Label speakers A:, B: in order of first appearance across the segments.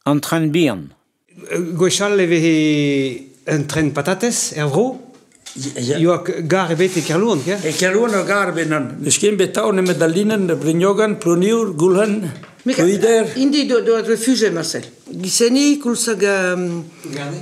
A: An tren bihan. Gwechall
B: e veze un tren patatez er vro. Ioa gar ebet e Kerlouan, ya? E Kerlouan ur gar ebet
C: nann. N'eus ken bet tav nemet da Linen, Brignogan, Plouniour, Goulc'hen, Plouider. Indi do, do
D: refugié, Marcel. Giseni, koulz hag um,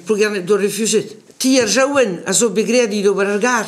D: Plougerne. do refugié. Ti ar Jaouen a zo bet graet dit ober ar gar.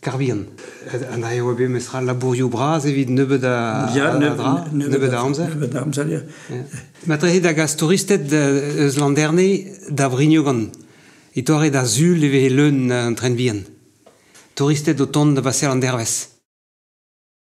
C: Karbihan.
B: An aeo eo bet mestra labourioù bras evit nebeut a, dra,
C: nebeut a
B: amzer.
C: Nebeut a amzer, ya. Ma trehe
B: da gas touristed eus Landerne da Vrignogan, e torre da sul e vehe leun an tren vihan. Touristed o tont da baseal an dervezh.